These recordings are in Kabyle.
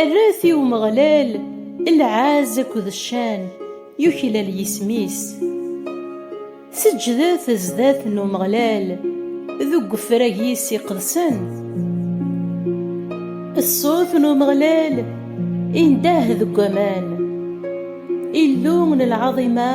Erret i Umeɣlal lɛaz akked ccan, yuklal yisem-is. Seǧǧdet sdat n Umeɣlal deg wefrag-is iqedsen. Ṣṣut n Umeɣlal indeh deg waman. Illu n lɛaḍima!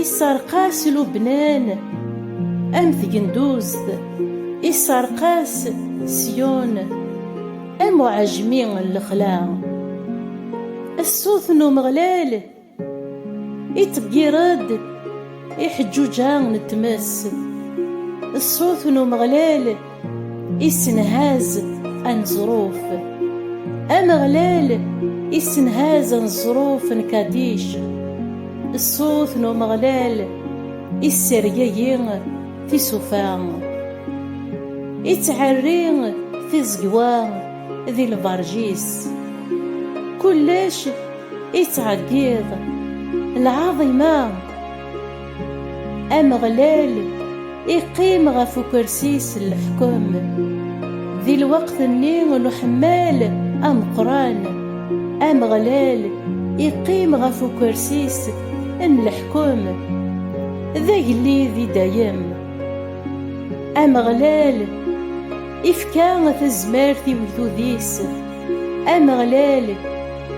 Isserqas Lubnan am tgenduzt, isserqas Syon am uɛejmi n lexla. Ṣṣut n Umeɣlal iṭeggir-d iḥeǧǧuǧa n tmes, ṣṣut n Umeɣlal. Issenhaz aneẓruf. Ameɣlal issenhaz aneẓruf n Kadic. Ṣṣut n Umeɣlal issergagi tisufa. Ittɛerri tiẓegwa di lberǧ-is. Kullec ittɛeggiḍ lɛaḍima. Ameɣlal iqqim ɣef ukersi-s n leḥkem. Di lweqt-nni n uḥemmal ameqqran, Ameɣlal iqqim ɣef ukersi-s n leḥkem. D agellid i dayem. Ameɣlal ifka tazmert i ugdud-is Ameɣlal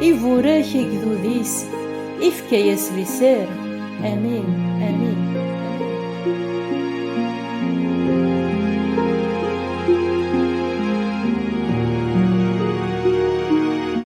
iburak igdud-is, ifka-yas liser. Amin, amin.